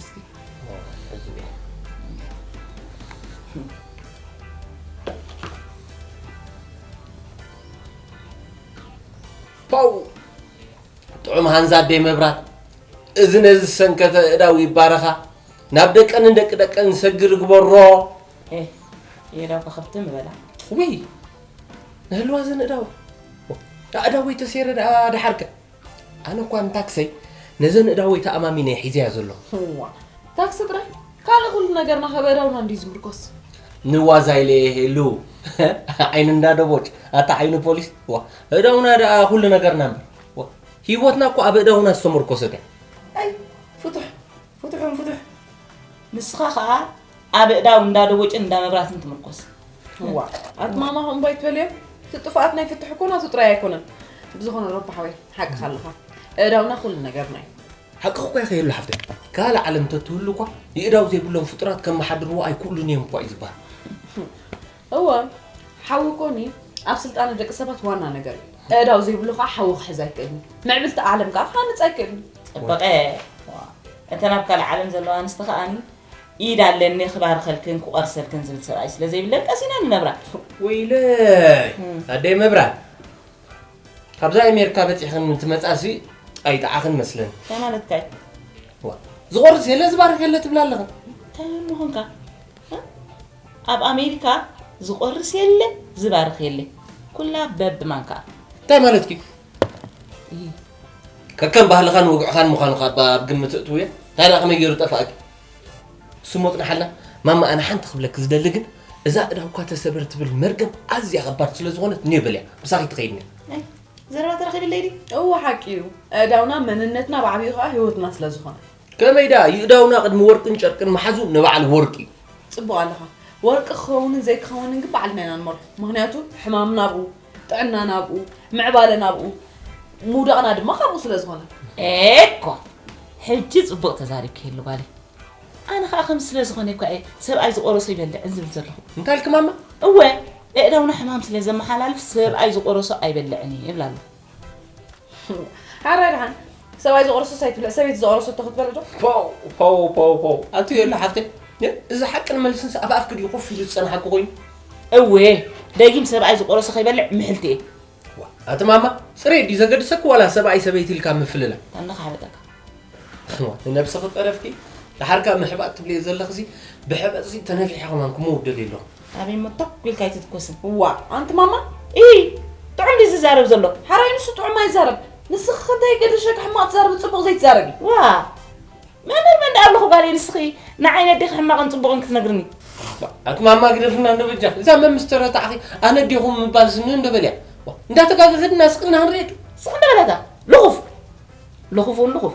እስኪ ፓው ጥዑም ሃንዛ ኣደይ መብራት እዚ ነዚ ዝሰንከተ እዳው ይባረኻ ናብ ደቀንን ደቂ ደቀን ዝሰግር ግበሮ የዳው ከኸብቲ ምበላ ውይ ንህልዋ ዘን እዳው ኣእዳወይ ተሴረ ደኣ ደሓርከ ኣነ እኳ ንታክሰይ ነዘን እዳወይ ተኣማሚነ ሒዘያ ዘለኹ እዋ ታክሲ ጥራይ ካልእ ኩሉ ነገርና ከበዳውና እንድዩ ዝምርኮስ ንዋዛ ኢለ የሄሉ ዓይኒ እንዳ ደቦጭ ኣታ ዓይኒ ፖሊስ ዋ እዳውና ደኣ ኩሉ ነገርና እምበር ዋ ሂወትና እኮ ኣብ እዳውና ዝተመርኮሰት እያ ኣይ ፍቱሕ ፍቱሕ ፍቱሕ ንስኻ ከዓ ኣብ እዳው እንዳደወጭን እንዳመብራትን ትምርኮስ ዋ ኣትማማ ከምኡ ኣይትበልዮ እቲ ጥፍኣት ናይ ፍትሕ እኮ ናቱ ጥራይ ኣይኮነን ብዝኾነ ረቢ ሓወይ ሓቅኻ ኣለኻ እዳውና ኩሉ ነገርና እዩ ሓቅኺ እኳ ይኸየሉ ሓፍተይ ካልእ ዓለም እንተትህሉ እኳ ይእዳው ዘይብሎም ፍጡራት ከመሓድርዎ ኣይክእሉን እዮም እኳ እዩ ዝበሃል እወ ሓዊ ኮኒ ኣብ ስልጣነ ደቂ ሰባት ዋና ነገር እዩ እዳው ዘይብሉ ከዓ ሓዊ ክሕዝ ኣይክእልን ምዕብልቲ ዓለም ከዓ ክሃንፅ ኣይክእልን ፅበቐ እተን ኣብ ካልእ ዓለም ዘለዋ ኣንስቲ ከዓኒ ኢድ ኣለኒ ክባርኸልክን ክቆርሰልክን ዝብል ሰብኣይ ስለ ዘይብለን ቀሲና ንነብራ። ወይለይ ኣደይ መብራት ካብዛ ኣሜሪካ በፂሕኽን እንትመፃሲ ኣይጠዓኽን መስለን እንታይ ማለትካ እዩ ዝቆርስ የለ ዝባርክ የለ ትብላ ኣለኽን እንታይ ምኾንካ እ? ኣብ ኣሜሪካ ዝቆርስ የለ ዝባርኽ የለ ኩላ በብማንካ እንታይ ማለት እዩ ከከም ባህልኻን ወግዕኻን ምዃኑ ካብ ኣብ ግምት እትውየ እንታይ ደኣ ከመይ ገይሩ ጠፋእኪ ስሙ ኣፅናሓልና ማማ ኣነ ሓንቲ ክብለኪ ዝደሊ ግን እዛ እዳውካ ተሰብር ትብል መርገም ኣዝያ ከባድ ስለ ዝኾነት ኔ በልያ ምሳኺ ትኸይድኒ ዘረባ ተረኺብለይ ዲ እዎ ሓቂ እዩ እዳውና መንነትና ብዓብዩ ከዓ ህይወትና ስለ ዝኾነ ከመይ ደኣ ይእዳውና ቅድሚ ወርቅን ጨርቅን መሓዙ ንባዕሉ ወርቂ እዩ ፅቡቅ ኣለኻ ወርቂ ክኸውንን ዘይክኸውንን ግን ባዕልና ኢና ንመርሑ ምክንያቱ ሕማምና ኣብኡ ጥዕናና ኣብኡ፣ ምዕባለና ኣብኡ፣ ምውዳቕና ድማ ካብኡ ስለ ዝኾነ። ኤኮ ሕጂ ጽቡቕ ተዛሪብኪየሉ ጓለይ። ኣነ ከዓ ከምዚ ስለ ዝኾነ እኳ እየ ሰብኣይ ዝቆረሶ ይበልዕን ዝብል ዘለኹ። እንታይ ኢልኪ ማማ? እወ፣ ኣእዳውና ሕማም ስለ ዘመሓላልፍ ሰብኣይ ዝቆረሶ ኣይበልዕን እየ ይብላ ኣለኹ። ሓራይ ድሓን ሰብኣይ ዝቆረሶ ሳይትብለ ሰበይቲ ዝቆረሰቶ ክትበለ ዶ ፖው ፖው ፖው ፖው ኣቱ የለ ሓፍተይ እዚ ሓቅን መልስን ኣብ ኣፍኪ ድዩ ኮፍ ኢሉ ዝፀናሓኪ ኮይኑ እወ ደጊም ሰብኣይ ዝቆረሶ ከይበልዕ ምሕልቲ እየ ኣቲ ማማ ፅሬ ድዩ ዘገድሰኪ ዋላ ሰብኣይ ሰበይቲ ኢልካ ምፍልላ ኣለካ ሓበጠካ ንነብሲ ክጠረፍኪ ድሓርካ ምሕባጥ ትብልየ ዘለኽዚ ብሕበጥዚ ተነፊሐ ከማን ክምውደል የለኹ ኣበይ እሞ ቶክ ኢልካ ኣይትትኮስን እዋ ኣንቲ ማማ እይ ጥዑም ድዩ ዝዛረብ ዘሎ ሓራይ ንሱ ጥዑም ኣይዛረብ ንስኺ ከንታይ ገደሸኪ ሕማቕ ትዛረቢ ፅቡቕ ዘይትዛረቢ ዋ መምህር መን ደኣ ኣለኹ ጋለይ ንስኺ ንዓይ ነዴኺ ሕማቕን ፅቡቕን ክትነግርኒ ኣትማማ ግደፍና እንዶ በጃ እዛ መምስተረ ተዓኺ ኣነ ዴኹም ምባል ስኒ እንዶ በልያ እንዳተጋገፈድና ስቅና ክንሪኤ ስቅ እንደ በለታ ልኹፍ ልኹፍ እውን ልኹፍ